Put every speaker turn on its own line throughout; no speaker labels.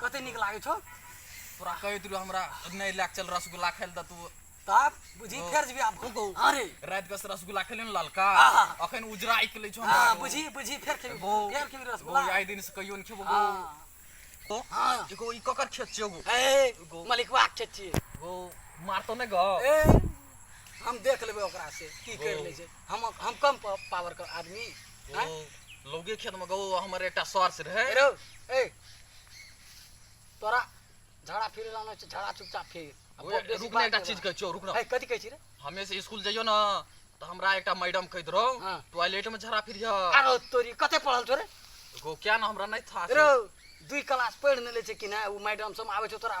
कते नीक लागै छौ तोरा कहैत रहू हमरा नहि लए चल रसगुल्ला खाइ लए तू तब बुझी फेर जेबी आब कहू अरे रात के रसगुल्ला खेले ने ललका अखन उजरा आइ खेले छौ हां बुझी बुझी फेर खेबी फेर खेबी रसगुल्ला आइ दिन से कहियो ने खेबो गो तो हां एगो ई ककर खेत छियो गो ए मलिकवा के खेत छियो गो मार तो ने गो ए हम देख लेबे ओकरा से की कर ले छै हम हम कम पावर के आदमी लोगे खेत में गो हमर एकटा सर से रहे ए तोरा झगड़ा फिर रहना छै झगड़ा चुपचाप फिर आ बहुत बेसी रुक ने बात एकटा नहि चीज बा। कहै छियौ रुक ने है कथी कहै छी रे हमे से स्कूल जइयो ने तऽ हमरा एकटा मैडम कहैत रहौ हाँ। टॉयलेट में झड़ा फिर आरो तोरी कते पढ़ल छौ रे एगो क्या ना हमरा नहीं था रो दुई क्लास पढ़ि नेले छै कि नहि ओ मैडम सब आबै छौ तोरा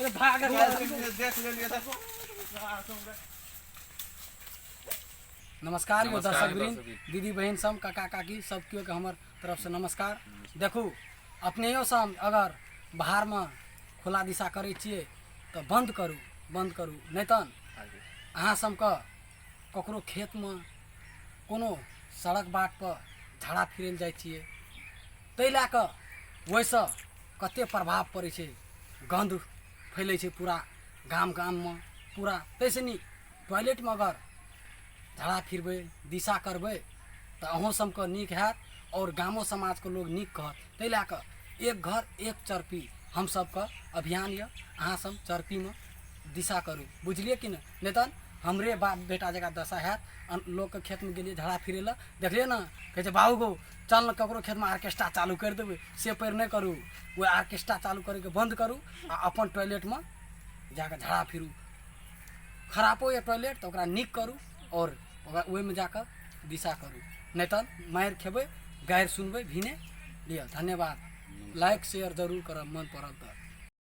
अरे भाग देख लेलिए देखो नमस्कार यो दर्शक वृंद दीदी बहन सब काका काकी सब केओ के हमर तरफ से नमस्कार देखू अपनेयो सब अगर बाहर में खुला दिशा करे छिए तो बंद करू बंद करू नहीं तन अहाँ सबके ककरो खेतमे कोनो सड़क बाटपर झाड़ा फिरै लए जाइ छियै ताहि लए कऽ ओहिसँ कतेक प्रभाव पड़ै छै गन्ध फैलै छै पूरा गाम गाममे पूरा ताहिसँ नीक टॉयलेटमे अगर झाड़ा फिरबै दिशा करबै तऽ अहूँ सबके नीक हैत आओर गामो समाजके लोक नीक कहत ताहि लए कऽ एक घर एक चरपी हमसबके अभियान यऽ अहाँसब चरपीमे दिशा करू बुझलियै कि नहि नहि तहन हमरे बाप बेटा जकाँ दशा हैत अन- लोकके खेतमे गेलियै झड़ा फिरै लए देखलियै ने कहै छै बाबू गो चल ने ककरो खेतमे आर्केस्ट्रा चालू करि देबै से पैर नहि करू ओ आर्केस्ट्रा चालू करैके बन्द करू आ अपन टॉयलेटमे जाकऽ झड़ा फिरू खरापो यऽ टॉयलेट तऽ ओकरा नीक करू आओर ओकरा ओहिमे जाकऽ दिशा करू नहि तऽ मारि खेबै गारि सुनबै भिने लिअ धन्यवाद लाइक शेयर जरूर करब मन पड़ल तऽ